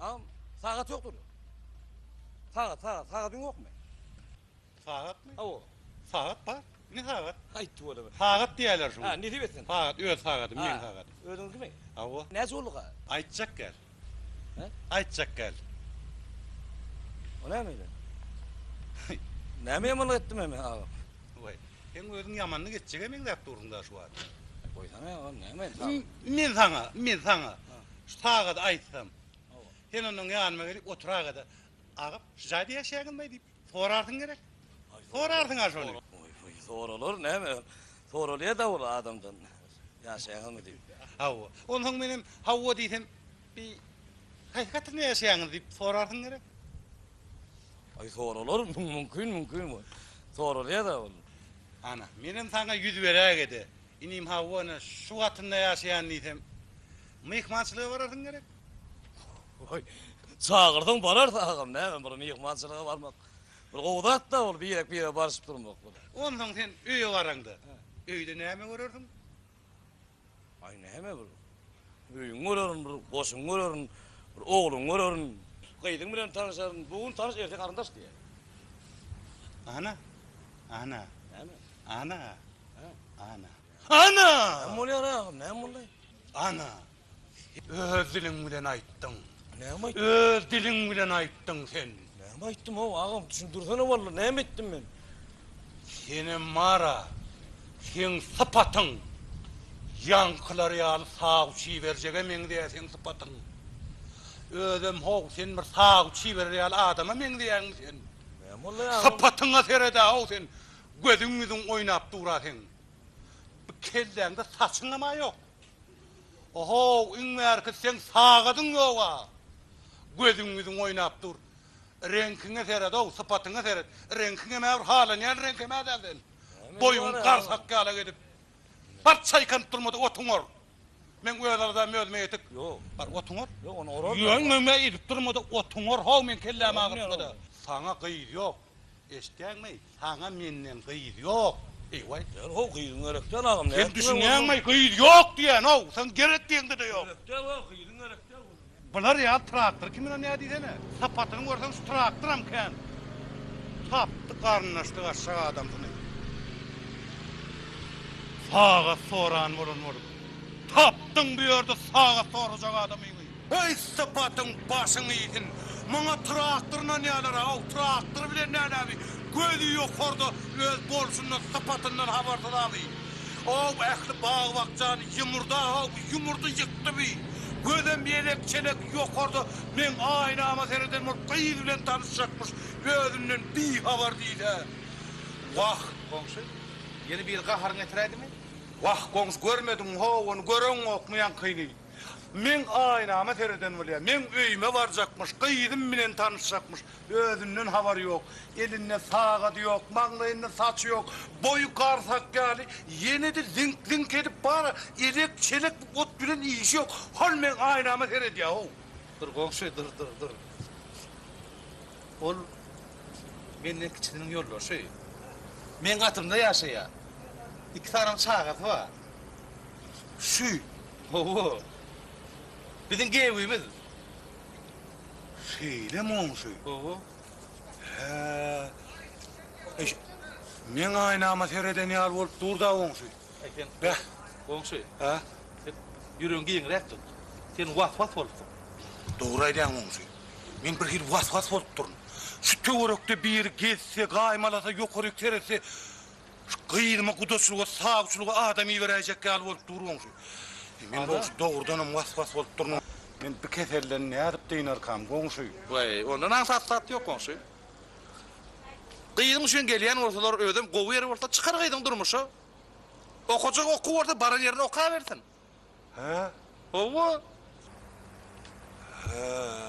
Am, sagat ýokdur. Sagat, sagat, sagatyň ýokmy? Sagatmy? Awa. Sagat bar. Ne sagat? Aýtdy bolama. Sagat diýerler şuňa. Ha, nesip etsin. Sagat, öz sagadym, meň sagadym. Özüňkimi? Awa. Näçe boldy ga? Aýtjak gel. He? Aýtjak gel. O näme ile? Näme ýamanlyk etdim men aga? Oý, sen özüň ýamanlyk etjege meňzäp durdyň da şu wagt. Goýsana aga, näme edip? Men saňa, men saňa şu sagady aýtsam. Sen ondan ýanyma gelip oturak-da, agam, şu jaýda ýaşaýaňyzmaý diýip. Sorarsyň gerek. Sorarsyň a şony. Oý-hoý, soralar näme? Soralýa-da ol adamdan. Ýaşaýaňyzmy diýip. Hawa. Onsoň menem hawa diýsem, bi haýsy katrynda ýaşaýaňyz diýip sorarsyň gerek. Aý, soralar, mümkin, mümkin bu. Soralýa-da ol. Ana, menem saňa ýüz beräge-de, inim hawa, ine, şu katrynda ýaşaýan diýsem, myhmançylyga bararsyň gerek. Oy, çagyrsaň bararys agam, näme bir myhmançylyga barmak. Bir gowy zat-da ol birek-birege barşyp durmak bir. Onsoň sen öýe baraňda, öýde näme görersiň? Aý näme bir öýüňi görerin, bir goşuňy görerin, bir ogluňy görerin. Gyzyň bilen tanyşaryn, bu gün tanyş, erte garyndaş diýer. Ana! Ana! Näme? Ana! Ana! Ana! Näme bolýar agam, näme boldy? Ana! Öz diliň bilen aýtdyň. Näme aýtdym? Öz diliň bilen aýtdyň sen. Näme aýtdym-ow, agam, düşündirsene walla, näme etdim men? Senem bar-a, seň sypatyň ýaňkylar ýaly sagu-çiberjege meňzeýär seň sypatyň. Özem, how, sen bir sagu-çiberer ýaly adama meňzeýäňmi sen? Näme boldy-aý, agam? Sypatyňa sered-ä-how sen, gözüň-ýüzüň oýnap dur-a seň. Bu kelläňde saçyňam-a ýok. Ohow iň bärki seň sagadyň ýoga. Gözüň ýüzüň oýnap dur. Reňkiňe seredow, sypatyňa seret. Reňkiňemä bir halanýan reňkemä däl sen. Boýuň garsak ýala gezip. Bar çaýkanyp durma-da otuň or. Meň öz aladam özüme ýetik. Bar otuň or. Ýöňňeňe ezip durma-da otuň or-how meň kellämi agyrtma-da. Saňa gyz ýok. Eşitýäňmi? Saňa menden gyz ýok. Eý-waý! Ýöne how gyzyň gerek däl agam. Sen düşünýäňmi? Gyz ýok diýýän-ow. Seň gerek diýeňde-de ýok. Gerek däl wah, gyzyň gerek däl onuň. Bular ýaly traktory kimine nä diýsene. Sapatyny görseň şu traktoram kän. Tapdy garyndaşlyk aşak adamsyny. Sagat soran bolan bolup. Tapdyň bu ýerde sagat sorajak adamyňy. Eý sypatyň başyň iýsin. Muňa traktor ynanýarlar a ow traktor bilen nälebi gözi ýokarda öz bolşundan sypatyndan habarsyz abi ow ähli bag bakjany ýumurda ow ýumurdy ýykdy bi gözem ýelek çelek ýokarda meň aýnama sereden bolup gyz bilen tanyşjakmyş özünden bi habar diýsä wah goňşy ýene biri gaharyňy ýetiräýdimi. Wah goňşy görmediňmi how ony göreňokmy ýaňkyny. Men aýnama sereden bolýan. Meň öýüme barjakmyş, gyzym bilen tanyşjakmyş. Özünden habary ýok. Elinde sagady ýok, maňlaýynda saçy ýok. Boýy garsak ýaly, ýene-de ziňk-ziňk edip bar, elek-çelek bu ot bilen işi ýok. Hol meň aýnama seredýär-ow. Dur, goňşy, dur, dur, dur. Ol menden kiçisiniň ýoldaşy. Meň gatymda ýaşaýar. Iki sanyň çagasy bar. Şu Hawa. Biziň gewimiz. Şeýle monşy. Hawa. Hä. Eş. Men aýnama sereden ýaly bolup durda onşy. Eýsem. Bäh. Onşy. Hä. Ýüregiň giňräk tut. Sen was-was bolupsyň. Dogry aýdýaň onşy. Men bir hili was-was bolup durun. Şu töwerekde biri gezse, gaýmalasa, ýokaryk seretse, Şu gyzyma gudaçylyga sawçylyga adam iberäýjek ýaly bolup dur goňşy. Men goňşy dogrudanam was-was bolup duryn. Men bi keselden nädip dynarkam goňşy. Waý, onda nansat zat ýok goňşy. Gyzyň üçin gelýän bolsalar özem gowy ýeri bolsa çykar gyzyň durmuşa. Okajak okuw bolsa baran ýerinde okabersin. Hä? Hawa. Hä.